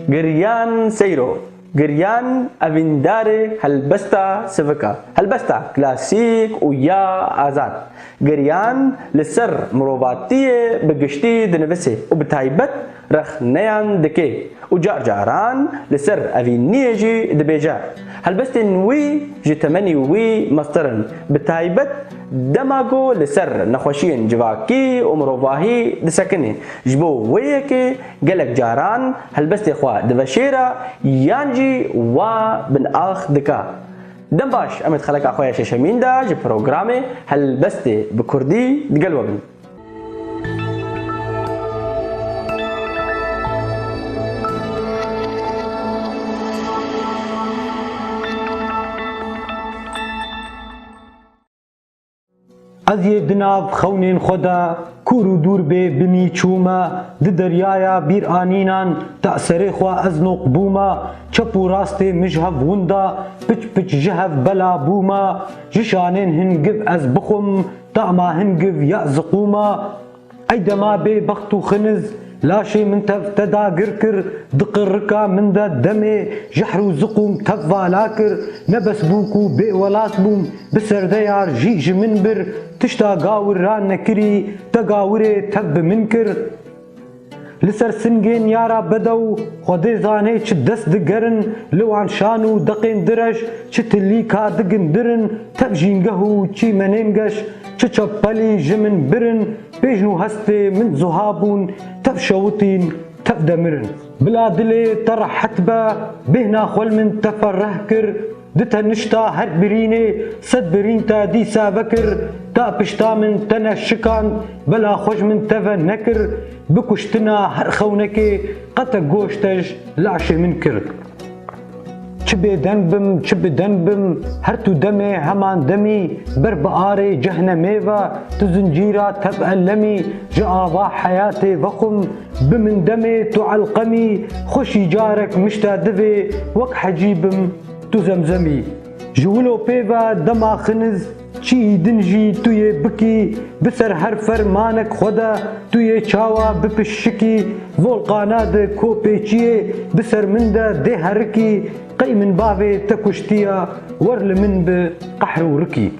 Giryan seyro, giryan evîndarê helbesta sivik a, helbesta klasîk û ya azad. Giryan li ser mirovatiyê bi giştî dinivisê û bi taybet rexneyan dike û car caran li ser evîniyê jî dibêje. Helbestên wî ji temenî wî meztir in, bi taybet dema ku li ser nexweşiyên civakî û mirovahî disekinê, ji bo wê yekê, Gelek caran helbestê xwe diveşêra yan jî wa binax dika. Dem baş em ê di xeleka xwe ya şeşemîn de ji programê Helbestê bi kurdî digel we bin. Ez yê di nav xewnên xwe de kûr û dûr bê binî çûme, di deryaya bîranînan de serê xwe ez noq bûme, çep û rastê min ji hev winda, piç piç ji hev bela bûme, ji şanên hin giv ez bixwim, tama hin giv ya ziqûme. Ey dema bê bext û xiniz laşê min tev te dagir kir, diqi rika min de demê jehr û ziqûm tev vala kir, ne bes bû ku bê welat bûm, bi serdeyar jî ji min bir, tişta gawir ra nekirî te gawirê tev bi min kir. Li ser singên ya ra bedew Xwedê zanê çi dest digerin li wan şan û deqên direj çi tilî ka digin dirin tev jîngeh û çî menên geş çi çepelî ji min birin pêjn û hestê min zuha bûn tev şewitîn tev demirin. Bila dilê te rehet be bêhna xwel min te fereh kir. Di tenişta hek birînê sed birîn te dîse vekir, te pişta min tene şikand, bela xwe ji min teve nekir, bi kuştina her xewnekê qete goş te ji leşê min kir. Çi bêdeng bim, çi bi deng bim, her tu demê heman demî, ber bi arê cehnemê ve, tu zincîra tep elemî, ji ava heyatê vexwim, Bi min demê tu elqemî xweşî carek mişta divê wek hecî bim tu zemzemî ji wilo pê ve dema xiniz çîyî din jî tu yê bikî bi ser her fer manek xwe de tu yê çawa bipiş şikî volqana di ko pê çîyê bi ser min de dê herikî qey min bavê te kuştiya wer li min bi qehr û rikî.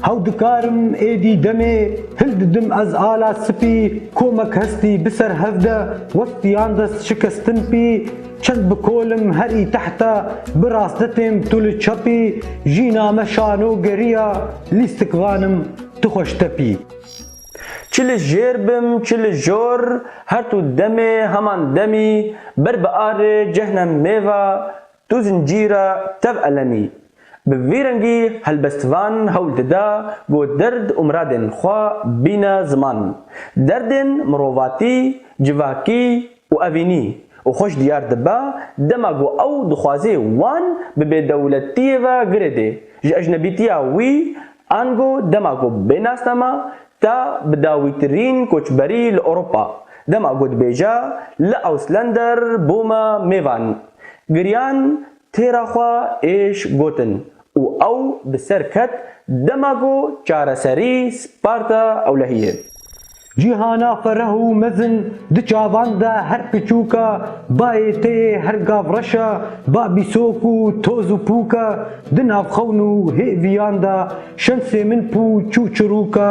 How dikarim êdî demê hin didim ez ala sipî komek hestî bi ser hev de wek piyan de şikestin pî çend bi kolim her î tehta bi raste têm tu li çepî jîna me şano geriya lîstik vanim tu xweş tepî. Çi li jêr bim çi li jor her tu demê heman demî ber bi arê cehnem mêva Tu zincîra tev elemî. Bi vî rengî helbestvan hewl dida ku dird û miradên xwe bîne ziman. Derdên mirovatî, civakî û evînî û xweş diyar dibe dema ku ew dixwazê wan bi bêdewletiyê ve girêdê, ji ecnebîtiya wî Ango dema ku bê nasnama ta bi dawîtirîn koçberî li Ewropa, dema ku dibêje li Auslander bû me mêvan. Giriyan têra xwe êş gotin û ew bi ser ket dema ku çareserî Sparta ewlehiyê. Cîhana fereh û mezin di çavan de her piçûk e, bayê te yê her gav reş e, ba bîsok û toz û pûk e, di nav xewn û hêviyan de şensê min pû çû çirûk e,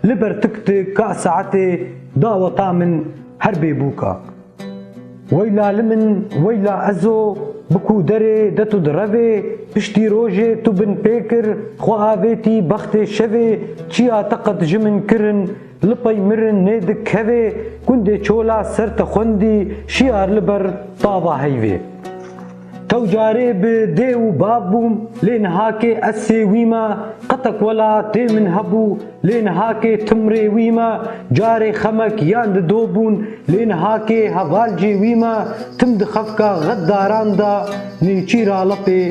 li ber tik tik a saetê, daweta min her bê bûk e. Weyla li min, weyla ez o, bi ku derê de tu direvê, piştî rojê tu bin pê kir, xwe avêtî bextê şevê, çiya te qet ji min kirin, li pey mirin nê dik kevê, gundê çola ser te xwendî, şiyar li ber tava heyvê. Tew carê bi dê û bav bûm lê nihakê ez sê wî me, qetek wela dê min hebû lê nihakê tim rê wî me, carê xemek yan di do bûn lê nihakê heval cê wî me, tim di xefka xet daran de nêçîr alepê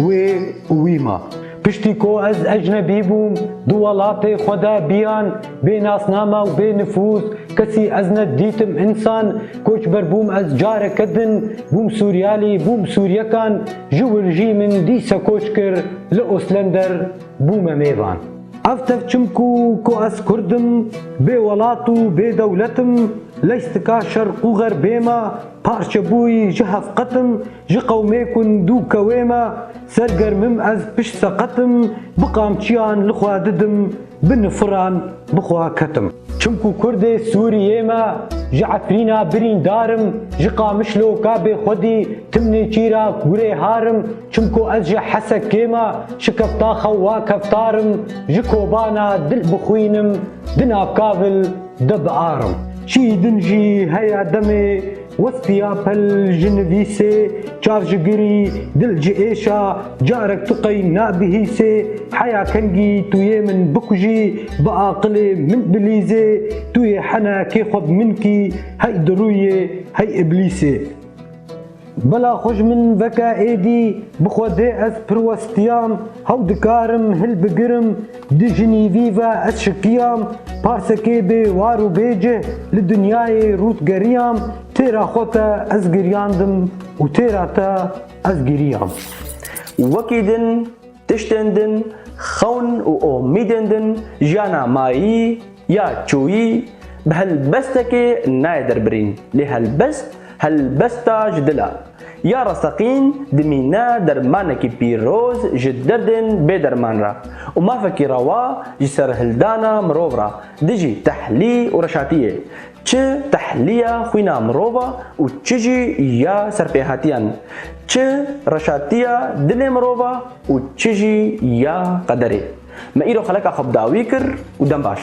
wê û wî me. Piştî ku ez ecnebî bûm, di welatê xwe de biyan bê nasname û bê nifûz kesî ez ne dîtim însan, koçber bûm ez careke din bûm Sûriyalî, bûm Sûriyekan ji wir jî min dîse koç kir li Oslender bûme mêvan. Ev tevçim ku ku ez kurd im, bê welat û bê dewlet im, leyh stika şerq û xerbê me, parçebûyî ji hevqet im, Ji qewmê ku ndû kewê me ser germim ez pişt seqetim bi qamçiyan li xwe didim bi nifiran bi xwe ketim. Çimku kurdê Sûriyê me ji Efrîna birîndarim ji Qamişloka bê xwedî tim nêçîra gurê harim çimku ez ji Hesekê me şikefta xewa keftarim ji Kobana dil bixwînim dina kavil de biarim. Çî din jî heye demê Westiya pil ji nivîsê, çar ji girî, dil ji êşa, carek tu qey nabihîsê, heya kengî tu yê min bikujî, bi aqilê min bilîzê, tu yê hene kê xwe bi min kî, hey dirûyê, hey iblîsê. Bila xwe ji min veke êdî, bi xwe dê ez pir westiyan, hew dikarim hilbigirim, Di jinî vî ve ez şikiyam, parsekê bê war û bê cih li dinyayê rût geriyam, têra xwe te ez giryandim û têra te ez giriyam. Wekî din, tiştên din, xewn û omîdên din jiyana mayî, Ya çoyî bi helbestekê nayê derbirîn lê helbest helbesta ji dil e. Ya rasteqîn dimîne dermanekî pîroz ji derdên bêderman re û mafekî rewa ji serhildana mirov re dijî tehlî û reşatiyê çi tehliya xwîna mirov e û çi jî ya serpêhatiyan, çi reşatiya dilê mirov e û çi jî ya qederê. Me îro xeleka xwe bi dawî kir û dem baş.